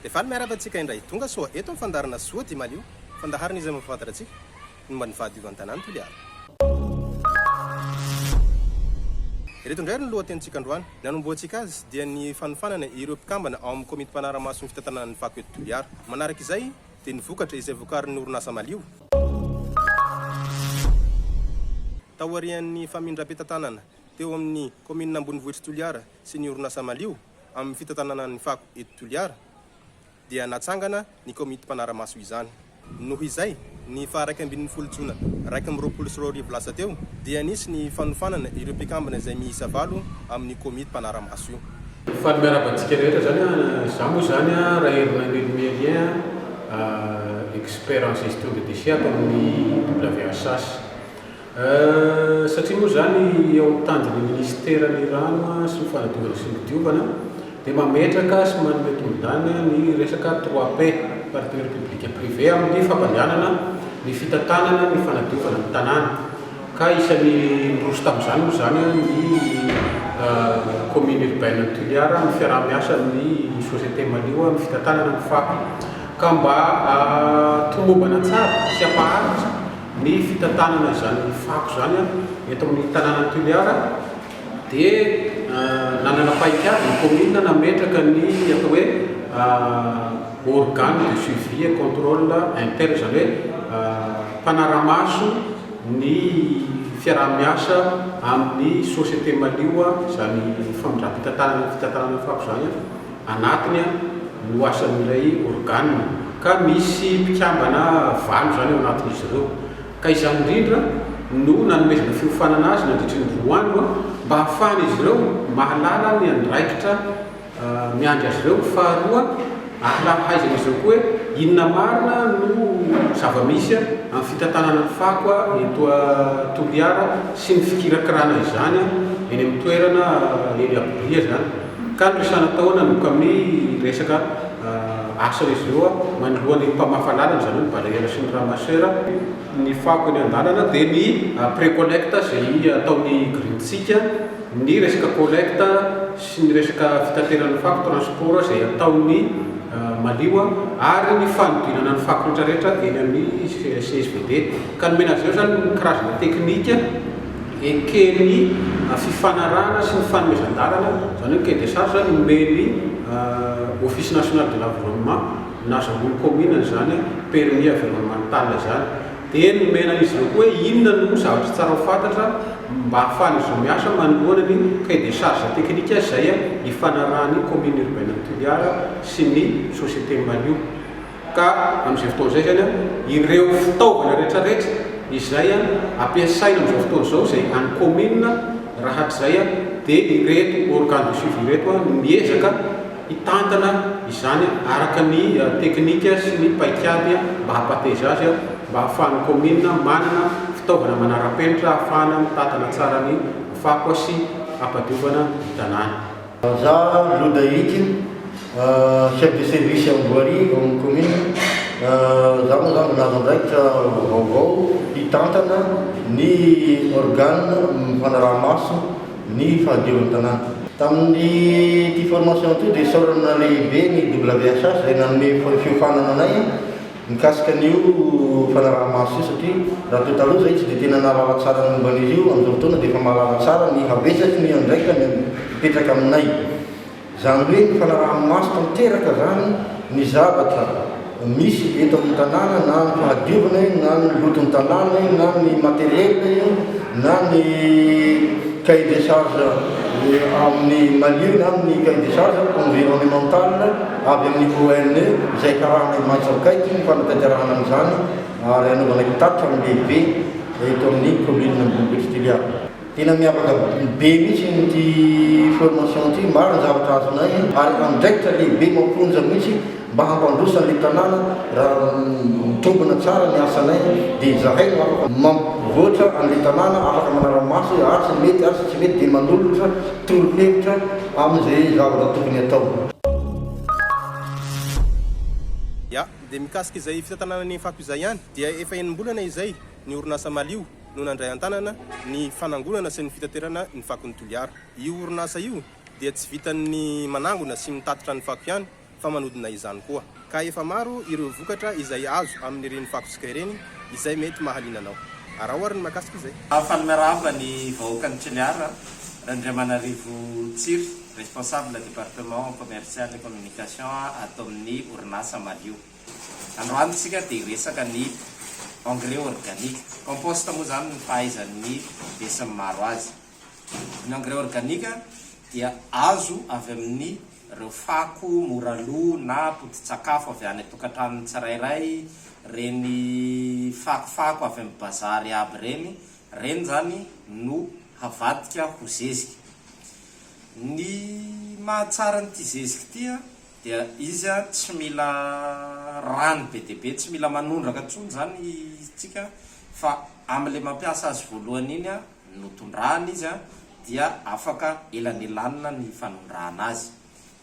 Dia faly miarahaba antsika indray tonga soa eto amin'ny fandaharana Soa dia malio, fandaharana izay mampahafantatra antsika ny momba ny fahadiovan tanàn'i Toliara. Ireto indray ary ny lohatenintsika androany. Ny hanombohantsika azy dia ny fanofanana ireo mpikambana ao amin'ny komity mpanara-maso ny fitantanana ny fako eto Toliara. Manaraka izay dia ny vokatra izay vokarin'ny orinasa Malio. Taorian'ny famindram-pitantanana teo amin'ny kaominina ambonivohitr'i Toliara sy ny orinasa malio amin'ny fitantanana ny fako eto Toliara dia natsangana ny komity mpanara-maso izany. Noho izay, ny faha iraika ambin'ny folo jona iraika amby roapolo sy roa arivo lasa teo dia nisy ny fanofanana ireo mpikambana izay miisa valo amin'io komity mpanara-maso io. Faly miarahaba antsika rehetra zany an, za moa zany an Rahelinanelo Mélien an, expert en gestion de déchets ato amin'ny WHH. Eeh, satria moa izany eo amin'ny tanjon'ny Minisitera ny Rano sy ny Fanadiovana sy ny Diovana dia mametraka sy manome tombondany ny resaka trois P, Partenaires Public et Privé, amin'ny fampandehanana ny fitantanana ny fanadiovana ny tanàna ka isan'ny niroso tamin'izany moa izany ny Commune Urbaine an'i Toliara amin'ny fiaraha-miasa amin'ny Société Malio amin'ny fitantanana ny fako ka mba hatomobana tsara sy hampaharitra Ny fitantanana izany fako izany eto amin'ny tanànan'i Toliara dia nanana paikady ny kaominina nametraka ny atao hoe organe de suivi et controle interne, izany hoe mpanara-maso ny fiaraha-miasa amin'ny société malio izany famindram-pitantanana ny fitantanana fako izany. anatiny no asan'ilay organe ka misy mpikambana valo izany ao anatin'izy ireo ka izany indrindra no nanomezana fiofanana azy nandritry ny roa andro mba hahafahan'izy ireo mahalala ny andraikitra miandry azy ireo, faharoa ahlahaizan'izy ireo koa hoe inona marina no zava-misy amin'ny fitantanana ny fako eto Toliara sy ny fikirakirana izany eny amin'ny toerana eny Akobolia izany. Mikalo isanataona ny kami resaka asa izy ireo manoloa ny mpamafa lalana izany hoe ny balayeur sy ny ramasseur. Ny fako eny andalana dia ny après collecte izay ataon'ny grid sika, ny resaka collecte sy ny resaka fitaterana ny fako, transport izay ataon'ny malio ary ny fanodinana ny fako retraretra eny amin'ny csvd ka nomena azy ireo izany ny karazana teknika eken'ny fifanarahana sy ny fanomezan-dalana, izany hoe cahier des charges nomen'ny Office National de l'Environnement, nazahoan'ny Kaominina izany permis environnemental izany. Dia nomena an'izy ireo koa hoe inona no zavatra tsara ho fantatra mba ahafahan'izy ireo miasa manoloana ny cahier des charges technique izay ifanarahan'ny Commune Urbaine Toliara sy ny Société Malio. Ka amin'izay fotoana izay izany, ireo fitaovana rehetrarehetra izay ampiasaina amin'izao fotoana izao, izay an'ny kaominina, raha hatrizay dia ireto organes de suivi ireto no miezaka hitantana izany araka ny teknika sy ny paikady mba hampateza azy, mba hahafahan'ny kaominina manana fitaovana manara-penitra ahafahana mitantana tsara ny fako sy hampadiovana ny tanàna. Vazaha Lodahity, chef de service am voirie ao amin'ny commune, za moa zany mbola andraikitra vaovao hitantana ny organe mifanaraha maso ny fahadioran'ny tanàna. Tamin'ity formation ity dia isaorana lehibe ny WHH izay nanome fiofanana anay. Mikasika an'io fanaraha-maso io satria raha toa taloha izay tsy dia tena nahalala tsara ny momba an'izy io, amin'izao fotoana dia efa mahalala tsara ny habetsaky ny andraikany mipetraka aminay. Izany hoe ny fanaraha-maso tanteraka izany ny zavatra misy eto amin'ny tanàna na ny fahadiovana io na ny loton'ny tanàna io na ny matériel io na ny cahier des charges amin'ny Mali io na ny cahier des charges environnemental. avy amin'ny ONE izay karana maitso akaiky ny fanatanterahana an'izany ary hanaovana kitatitra amin'ny lehibe eto amin'ny commune Ambohimbohitra Toliara. Tena miavaka be mihitsy ity formation ity, maro ny zavatra azonay ary andraikitra lehibe mamponja mihitsy mba hampandroso an'ilay tanàna, raha mitombina tsara ny asanay dia izahay no afaka mampivoatra an'ilay tanàna, afaka manara-maso hoe ary tsy mety ary tsy mety dia manolotra. Toronkevitra amin'izay zavatra tokony atao. Ya, dia mikasika izay fitantanana ny fako izay ihany dia efa enim-bolana izay ny orinasa Malio no nandray an-tanana ny fanangonana sy ny fitaterana ny fakon'i Toliara. Io orinasa io dia tsy vitan'ny manangona sy mitatitra ny fako ihany fa manodina izany koa. Ka efa maro ireo vokatra izay azo amin'ireny fakotsika ireny izay mety mahaliana anao. Araho ary ny mahakasika izay. Fa ny mirava ny vahoakan'i Toliara, Randriamanarivo Tsiry, responsable département commercial et communication ato amin'ny orinasa Malio. Androany isika dia hiresaka ny engrais organique, compost moa izany ny fahaizan'ny besinimaro azy. Ny engrais organique dia azo avy amin'ny ireo fako mora lo na poti-tsakafo avy any an-tokantranon'ny tsirairay, ireny fakofako avy amin'ny bazary aby ireny, ireny izany no havadika ho zezika. Ny mahatsara an'ity zezika ity dia izy tsy mila rano be dia be, tsy mila manondraka intsony izany isika fa amin'ilay mampiasa azy voalohany iny notondrahana izy dia afaka elanelanina ny fanondrahana azy.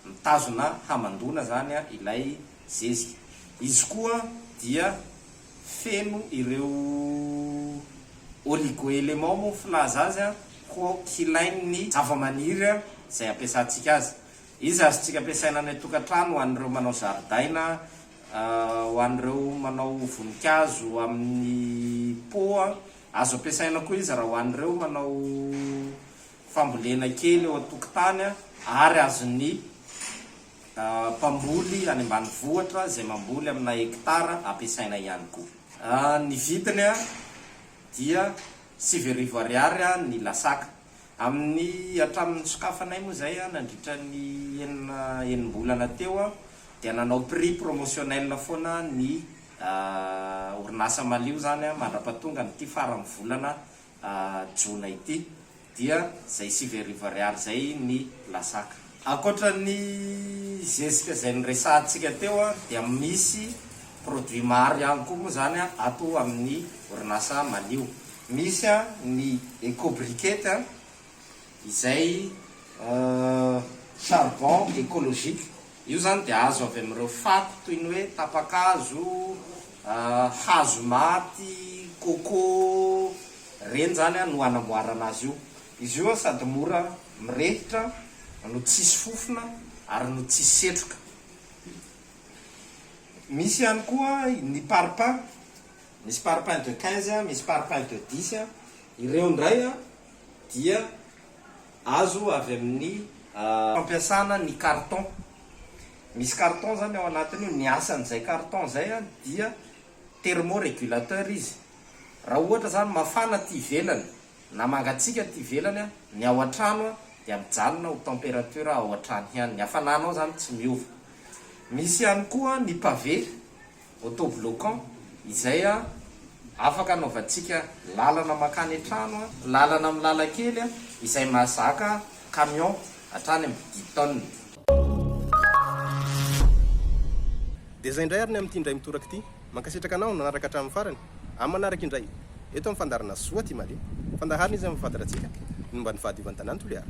Mitazona hamandoana izany ilay zezika. Izy koa dia feno ireo oligo-éléments moa ny filaza azy koa hilain'ny zavamaniry izay ampiasantsika azy. Izy azontsika ampiasaina any an-tokantrano ho an'ireo manao zaridaina, ho an'ireo manao voninkazo amin'ny pot. Azo ampiasaina koa izy raha ho an'ireo manao fambolena kely eo an-tokotany ary azon'ny mpamboly any ambanivohitra izay mamboly amina hekitara ampiasaina ihany koa. Ny vidiny dia sivy arivo ariary ny lasaka. Amin'ny hatramin'ny nisokafanay moa izay nandritra ny enina enim-bolana teo dia nanao prix promotionnel foana ny Ahh orinasa malio izany an, mandrapatongan ity faran'ny volana jona ity dia izay sivy arivo ariary izay ny lasaka. Ankoatra ny zezika izay noresahantsika teo an, dia misy produit maro ihany koa moa izany an ato amin'ny orinasa malio. Misy an ny eco briquette an, izay charbon ecologique, io zany dia azo avy amin'ireo fako toy ny hoe tapa-kazo, hazo maty, coco, ireny zany no anamboarana azy io. Izy io sady mora mirehitra no tsisy fofona ary no tsisy setroka. Misy ihany koa ny parpaing, misy parpaing de quinze, misy parpaing de dix, ireo indray dia azo avy amin'ny. Fampiasana ny carton. Misy carton izany ao anatiny io, ny asan'izay carton izay dia thermo-régulateur izy. Raha ohatra izany mafana aty ivelany na mangatsiaka aty ivelany ny ao an-trano dia mijanona ho température ao an-trano ihany, ny hafananao izany tsy miova. Misy ihany koa ny pavé. Autobloquant izay afaka anaovantsika lalana mankany an-trano, lalana amin'ny lalan-kely izay mahazaka camion hatrany amin'ny dix tonnes. Dia izay indray ary ny amin'ity indray mitoraka ity. Mankasitraka anao nanaraka hatramin'ny farany. Amin'ny manaraka indray. Eto amin'ny fandaharana Zoa ty Mali. Fandaharana izy amin'ny fahafantarantsika ny momba ny fahadiovan-tanàna toliara.